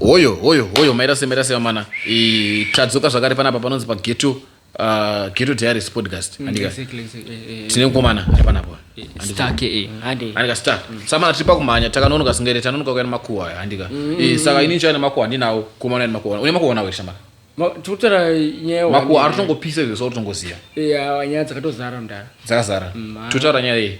hoyo hoyo hoyo mairase mairase vamana tadzoka zvakare panapa panonzi pageto uh, geto diaries podcast mm, andika eh, eh. tine mukomana ari panapo andika star mm. samana tiri pakumhanya takanonoka singere tanonoka kuya nemakuhwa aya andika mm. saka ini nchaya nemakuhwa andinawo kumana ya nemakuhwa une makuhwa nawo shamana tikutora nyaya makuhwa ari tongopisa izvo so totongoziva nyaya dzakatozara mdara dzakazara totaura nyaya iyi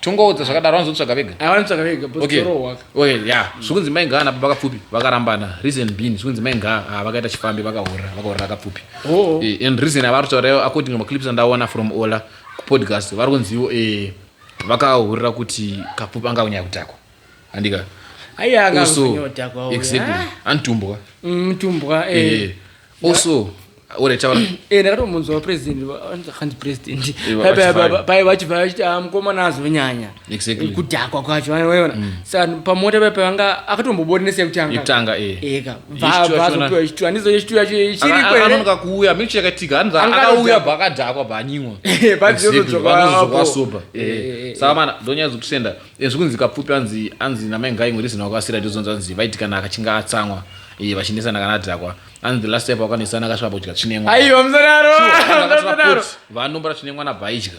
tongoudza zvakadaro vanozotsvaga vega ah, vanotsvaga vega okay. okay, yeah. Mm. zvikunzi mai ngaa nababa kapfupi vakarambana reason being zvikunzi mai ngaa ah, vakaita chifambi vakahorra vakahorra kapfupi oh. eh, and reason avari kutaura according to maclips andaona from ola kupodcast vari kunziwo eh, vakahurira kuti kapfupi anga kunyaya kutakwa andika aiya anga kunyaya kutakwa exactly ah. antumbwa mtumbwa mm, eh. eh. also ore taura eh ndakatomunzwa president hanzi president pai vachibva vachiti ah mukomana azonyanya exactly kudhakwa kwacho vanoona mm. saka pamota pai pavanga akatombobonesa yekutanga yekutanga eh eka vazopiwa chitu handizo chitu yacho chiri kwere anonoka kuuya mixture yakatika hanzi akauya bakadhakwa banyimwa eh, bazozodzwa sober eh, eh, saka mana ndonyadza kutusenda zvikunzi kapfupi anzi anzi namai ngai ngori zina kwasira ndizonzwa nzi vaitikana akachinga atsamwa iye vachinetsana kana adhakwa anzi the last time vakanetsana akasvika pakudya chinemwa aiwa musadaro musadaro vanombora chinemwa nabhaidya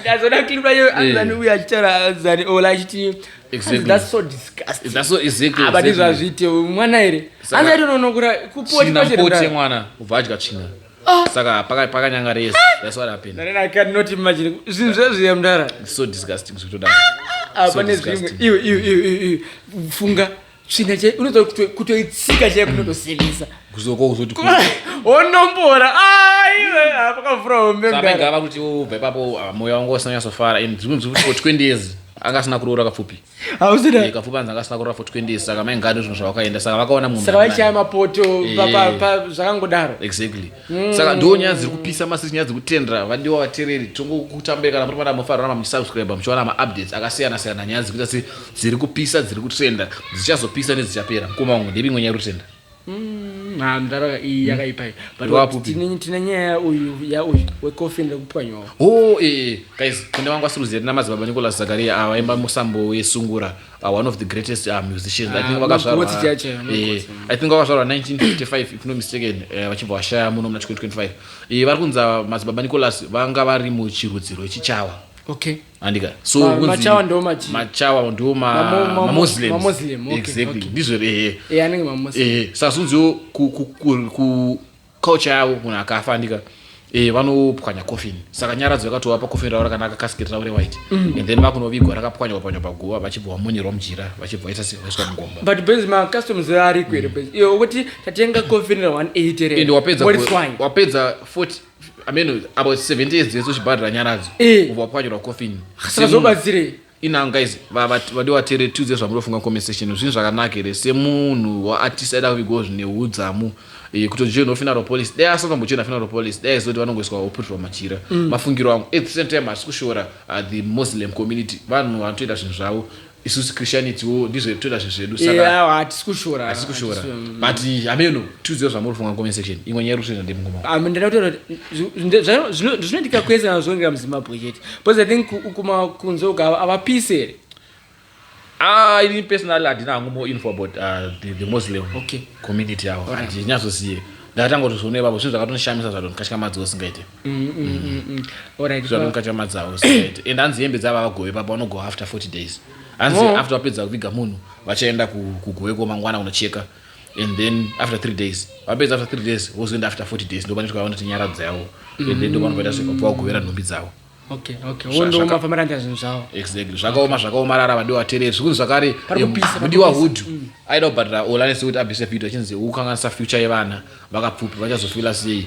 ndazoda clip rayo anzani uya achitaura anzani ola achiti that's so disgusting that's so exactly abati ah, zvazviite mwana here anzani unonokura kupoti pachipote mwana ubva adya tsvina ah. saka pakanyanga rese ah. that's what happened then i can not imagine zvinhu zvezviye mdara so disgusting zvikutoda apa nezvimwe iwe iwe iwe funga tsvina chai unoda kutoitsika chai kunotosimisa kuzoko uzoti onombora pakavhura hombegava kuti ubva ipapo ah, moyo wangu usina kunyasofara and dzimwe dzimwe for 20 years anga asina kuroora kapfupi eh, kapfupi anzi anga asina kuroora for 20 years saka maingani zvinhu zvavakaenda saka vakaona munhu saka vaichaya mapoto zvakangodaro exactly mm. saka ndo nyaya dziri kupisa masisi nyaya dziri kutendera vadiwa vatereri tongokutambai kana muri vana mufarira mamusubscribe muchiwana maupdates akasiyana siyana nyaya dziri kuita se dziri kupisa dziri kutrenda dzichazopisa nedzichapera mukoma wangu ndevimwe nyaya rutenda mm, ha mdhara iyi hmm. yakaipai but tine nyaya uyu ya uyu wekofin rekupwanyawo o oh, ee eh, eh. guys kune wangu asiruzia tina madzibaba nicolas zakaria avaimba musambo wesungura Uh, one of the greatest uh, musicians i think ah, vakazvarwa eh, i think vakazvarwa 1955 if no mistaken eh, vachibva vashaya muno muna 2025 eh, vari kunza madzibaba nicolas vanga vari muchirudziro chichawa okay andika so ah, machawa ndo machi machawa ndo ma ma muslims ma muslim okay, exactly okay. ndizvo ehe eh anenge ma muslim eh sasa unziwo ku ku ku Culture yavo munhu akafa andika eh, vanopwanya coffin saka nyaradzo yakatovapa coffin ravo rakanaka kasiketi ravo rewhite mm. and then vakunovigwa rakapwanywa panywa paguva vachibva vamonyerwa mujira vachibva vaita vaiswa mugomba but benzi macustoms ariko here mm. benzi iyo ukuti tatenga coffin ra 180 re and wapedza wapedza 40 ameno about 70 years dzese uchibhadhira nyaradzo eh. ubva wapwanyirwa coffin saka zvobatsirei Ina guys vadiwa tere tiudze zvamunofunga comment section zvinhu zvakanaka here semunhu waartist aida kuvigwa zvine hudzamu eh, kutojoinwa funeral police dai asakambojoina funeral police dai zoti vanongoiswa oputwa machira mm. mafungiro angu at the same time asi kushora uh, the muslim community vanhu vanotoita zvinhu zvavo isusu christianity wo ndizvo toita zvinhu zvedu sakatisi kushora hatisi kushora mm. but hameno tiudziwo zvamuri kufunga comment section imwe nyaya iri kutoita ndemngoma ndinotoita zvinoitika kwese anozvongera muzimbabwe chete because i think ukuma kunze uka avapisi here Ah, ini personally handina hangu more info about uh, the, the muslim okay. community yavo right. handinyazozive ndakatanga kuti zvione ivavo zvinhu zvakatonishamisa zvadonikatya madzi usingaite mm, mm, mm, zvadonikatya madzi avo usingaite and hanzi hembe dzava vagove papa vanogoa after 40 days hanzi oh. after vapedza kuviga munhu vachaenda kugove komangwana kunocheka and then after three days vapedza after three days vozoenda after 40 days ndovanoti kwavaona kuti nyara dzavo and then ndovanobvaita zvekubva vagovera nhumbi dzavo okay okay wondooma famaranda zvinhu zvavo exactly zvakaoma zvakaomarara vadiwa terere zvikunzi zvakare mudiwa hudhu mm. aida kubhadhara olanese kuti abvise video achinzi ukanganisa future yevana vakapfupi vachazofila sei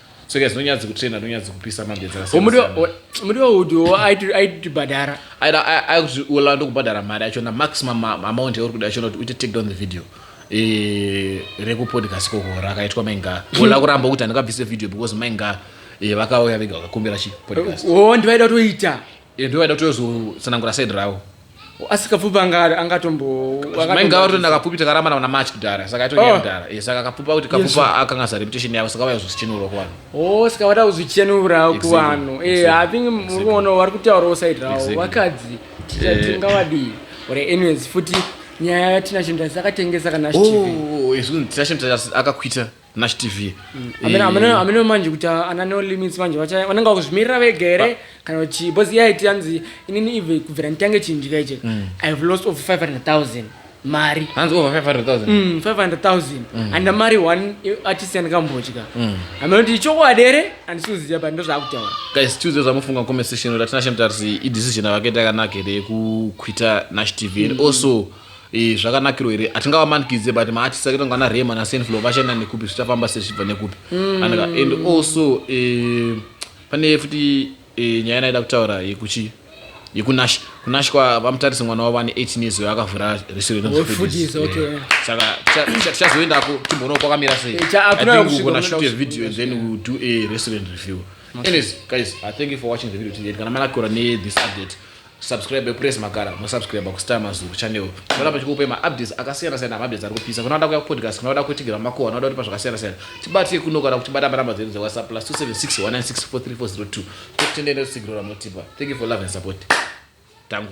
tsoka dzinonyadzi kutrena nonyadzi kupisa mambedzi akasiyanamuriwo uti wo aitibhadhara aikuti ula ndokubhadhara mari yacho na maximum amount yauri kuda yacho noti uite take down the video eh, rekupodcast kokora akaitwa mainga ula kuramba kuti handikabvise video because mainga eh, vakauya vega vakakumbira chipodcast o oh, ndivaida kutoita Iyo ndiyo vaida kutozotsanangura side ravo. Asi kapfupi anga anga tombo Mai ngava toenda kapfupi takarambana kuna March kudhara saka yatonyaya oh. kudhara. Yes saka kapfupi akuti kapfupi akanga sa reputation yavo saka vaya zvozichenura kuvanhu. Oh saka vada kuzvichenura kuvanhu. Eh I think muri kuona vari kutaurawo side ravo vakadzi. Eh. Tingavadii. Or anyways futi nyaya yatinashinda sakatengesa kana oh, oh, oh, akakwita nash tv Hameno- hameno- hameno manje kuti ana no limits manje vacha- vanenge vakuzvimirira vega here kana kuti bos iya iti yanzi inini ive kubvira nditange chindika iche i have lost over 500000 mari hanzi over 500000 Mm, 500000 and mari one i- artist yandikambodya hameno kuti ichokwadi here handisi kuziva but ndozvaakutaura guys tuesday zvamufunga comment section kuti atinashe mtarisi idecision avakaita yakanaka here yekukwita nash tv and also Eh, zvakanakiro here hatingavamanikidze but maartist akaita ngana rema nasenflow vachaenda nekupi zvichafamba sei zvichibva nekupi mm. and, and also eh, pane futi eh, nyaya naida kutaura yekuchi yekunash kunash kwa vamutarise mwana wavo ane 18 years uyo akavhura resortsaka tichazoendako timboonao kwakamira seiakunashute eh, video and then we'll do a restaurant review anyways guys i thank you for watching the video today kana manakura ne this update Subscribe press makara mo subscribe ku Star Mazuru channel. Tinoda pachikupe ma updates akasiyana siyana ma updates ari kupisa. Kana wada kuya podcast, kana wada kuitigera makuwa, kana wada kuti pazvakasiyana siyana. Tibate kuno kana kutibata pa number dzedu dze WhatsApp plus 2761964342. Tokutendera tsigirora motipa. Thank you for love and support. Tangu.